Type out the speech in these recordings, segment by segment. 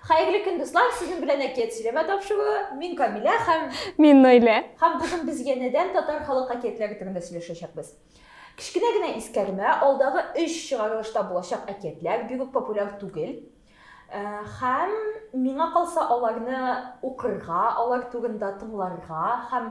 Хәерле көн, дуслар! Сезнең белән әкият сөйләмә тапшыруы. Мин Камилә һәм... Мин Наилә. Һәм бүген без янәдән татар халык әкиятләре турында сөйләшәчәкбез. Кечкенә генә искәрмә, алдагы өч чыгарылышта булачак әкиятләр бик үк популяр түгел. Һәм миңа калса, аларны укырга, алар турында тыңларга һәм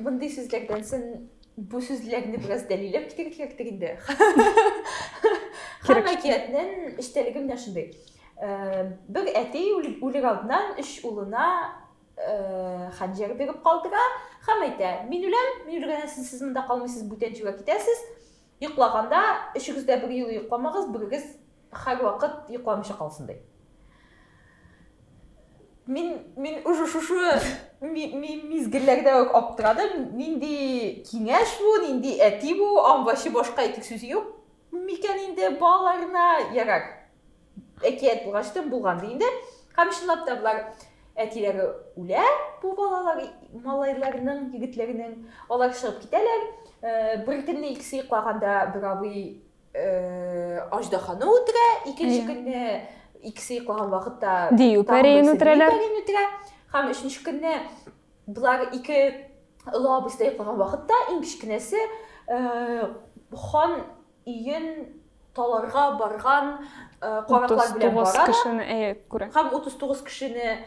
Мондый сүзләрдән сон бу сүзләрне бераз дәлиләп китәргә кирәктер инде. Һәм әкиятнең эчтәлеге менә шундый. Бер әти үлер алдыннан өч улына хәнҗәр биреп калдыра һәм әйтә, мин үләм, мин үлгәннән соң сез монда калмыйсыз, бүтән җиргә китәсез. Йоклаганда, өчегез дә бер юлы йокламагыз, берегез һәрвакыт йокламыйча калсын, ди. Мин, мин уже шушы мизгелләрдә үк аптырадым, нинди киңәш бу, нинди әти бу, аңлачы башка әйтер сүз юк микән инде балаларына, ярар. Әкият булгач та булган ди инде. Һәм чынлап та болар әтиләре үлә, бу балалар малайларның, егетләрнең. Алар чыгып китәләр. Э, бер көнне икесе йоклаганда бер абый э, аждаһаны үтерә, икенче көнне икесе йоклаган вакытта дию пәрәен үтерәләр. Һәм өченче көнне болар ике олы абыйсы йоклаган вакытта иң кечкенәсе э, хан Иен таларга барган караклар белән бара. 39 кешене әйе күрә. Һәм 39 кешене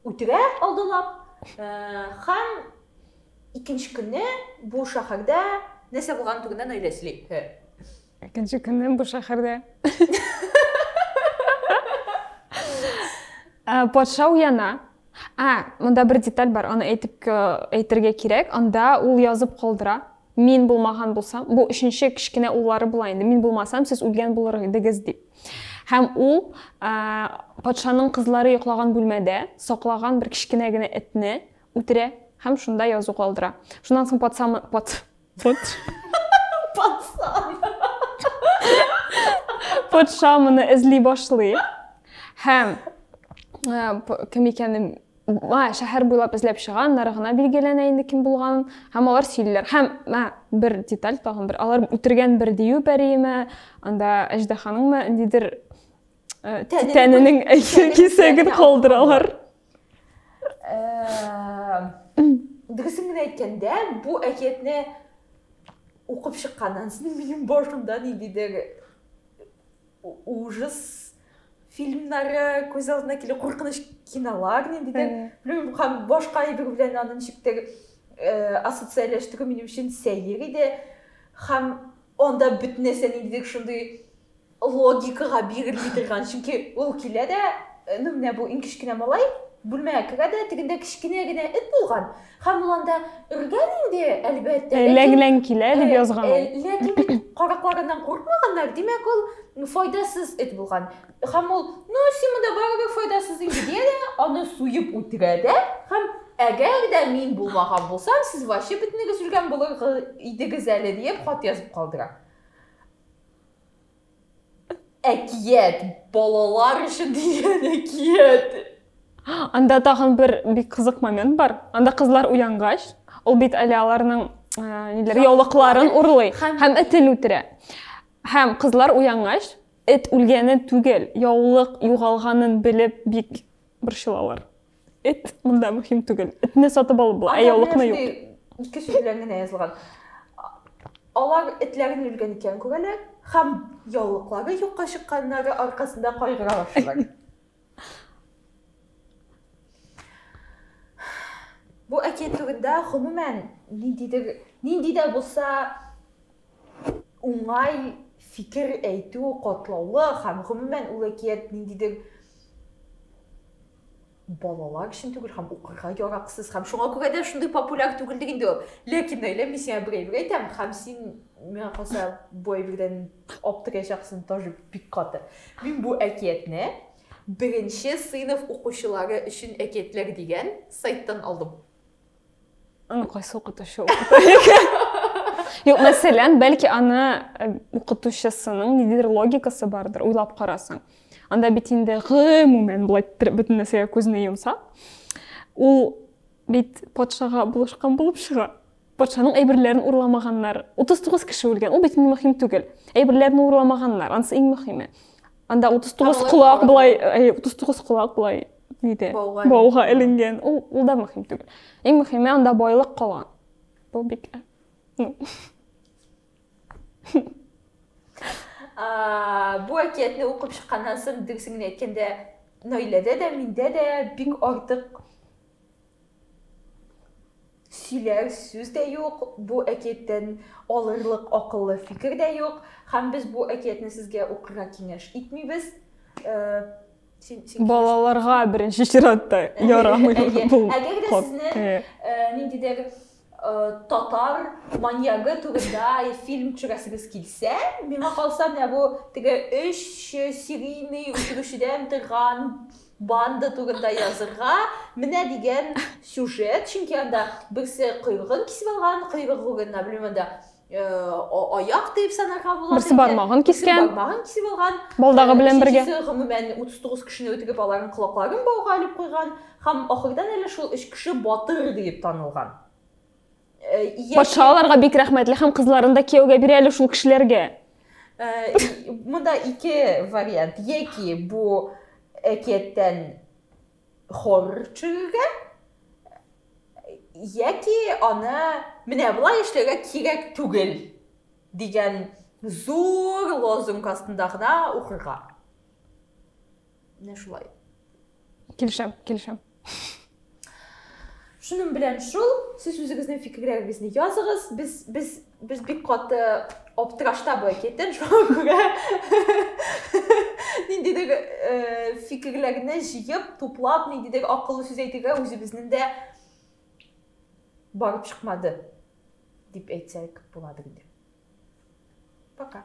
үтерә алдылап. Һәм икенче көнне бу шәһәрдә нәрсә булган турында Наилә сөйли. Икенче көнне бу шәһәрдә патша уяна. А, монда бер деталь бар, аны әйтеп әйтергә кирәк. Анда ул язып калдыра. Мин булмаган булсам, бу өченче кечкенә уллары була инде. Мин булмасам, сез үлгән булыр идегез дип. Һәм ул ә, патшаның кызлары йоклаган бүлмәдә саклаган бер кечкенә генә этне үтерә һәм шунда язу калдыра. Шуннан соң патша пат пат патша патша моны эзли башлый һәм ә, кем икәнен Мә, шәһәр буйлап эзләп чыганнар, гына билгеләнә инде кем булганын, һәм алар сөйлиләр. Һәм, мә, бер деталь тагын бер, алар үтергән бер дию пәриеме, анда әждаһаныңмы, ниндидер э, тәненең кисәген калдыралар. Э, Дөресен генә әйткәндә, бу әкиятне укып чыкканнан соң минем башымда ниндидер ужас фильмнары күз алдына килә куркыныч кинолар ниндидер белмим һәм башка әйбер белән аны ничектер э, ассоциальләштерү минем өчен сәер иде һәм анда бөтен нәрсә ниндидер шундый логикага бирелми торган чөнки ул килә дә э, ну менә бу иң кечкенә малай бүлмәгә керә дә тегендә кечкенә генә эт булган Һәм ул анда өргән инде, әлбәттә. Э, Ләң-ләң килә, дип э, язган э, ул. Ләкин бит каракларыннан курыкмаганнар, димәк, ул файдасыз эт булган. Һәм ул, ну, син монда барыбер файдасыз инде, дия дә, аны суеп үтерә дә, һәм әгәр дә мин булмаган булсам, сез вообще бөтенегез үлгән булыр идегез әле, диеп хат язып калдыра. Әкият! Балалар өчен дигән әкият! Анда тагын бер бик кызык момент бар. Анда кызлар уянгач, ул бит әле аларның ниләр яулыкларын урлый һәм этен үтерә. Һәм кызлар уянгач, эт үлгәнен түгел, яулык югалганын белеп бик борчылалар. Эт монда мөһим түгел. Этне сатып алып була, ә яулыкны юк. Кеше белән генә язылган. Алар этләрен үлгән икән күрәләр һәм яулыклары юкка чыкканнары аркасында кайгыра башлыйлар. Бу әкият турында гомумән ниндидер нинди дә булса уңай фикер әйтү котлаулы һәм гомумән ул әкият ниндидер балалар өчен түгел һәм укырга яраксыз һәм шуңа күрә дә шундый популяр түгел диген ди ул ләкин наилә мин сиңа бер әйбер әйтәм һәм син миңа калса бу әйбердән аптыраячаксың тоже бик каты мин бу әкиятне беренче сыйныф укучылары өчен әкиятләр дигән сайттан алдым Аны кайсы укытучы Юк, мәсәлән, бәлки аны э, укытучысының ниндидер логикасы бардыр, уйлап карасаң. Анда бит инде гомумән былай бөтен нәрсәгә күзне йомса, ул бит патшага булышкан булып чыга. Патшаның әйберләрен урламаганнар. 39 кеше үлгән. Ул бит иң мөһим түгел. Әйберләрен урламаганнар. Ансы иң мөһиме. Анда 39 колак былай, 39 колак былай нидә? Бауга. Бауга эленгән. Ул ул да мөһим түгел. Иң мөһиме анда байлык кала. Бу бик. А, бу әкиятне укып чыкканнан соң дөресен генә әйткәндә, Наиләдә дә, миндә дә бик артык сөйләр сүз дә юк, бу әкияттән алырлык акыллы фикер дә юк, һәм без бу әкиятне сезгә укырга киңәш итмибез. Балаларга беренче чиратта ярамый бу. Әгәр дә сезне ниндидер татар маньягы турында фильм төшерәсегез килсә, миңа калса, менә бу теге өч серийный үтерүчедән торган банда турында язырга, менә дигән сюжет, чөнки анда берсе койрыгын кисеп алган, койрыгы урынына, белмим, анда аяк дип санарга була. Берсе бармагын кискән. Бармагын кисеп алган. Балдагы белән бергә. Гомумән 39 кешене үтегеп аларның колакларын бауга алып куйган һәм ахырдан әле шул өч кеше батыр дип танылган. Патша аларга бик рәхмәтле һәм кызларын да кияүгә бирә әле шул кешеләргә. Монда ике вариант. Яки бу әкияттән хор чыгырга яки аны менә болай эшләргә кирәк түгел дигән зур лозунг астында гына укырга. Менә шулай. Килешәм, килешәм. Шуның белән шул, сез үзегезнең фикерләрегезне языгыз. Без без Без бик каты аптырашта бу әкиятен, шуңа күрә ниндидер э, фикерләрне җыеп, туплап, ниндидер акыллы сүз әйтергә үзебезнең дә барып чыкмады, дип әйтсәк буладыр инде. Пока.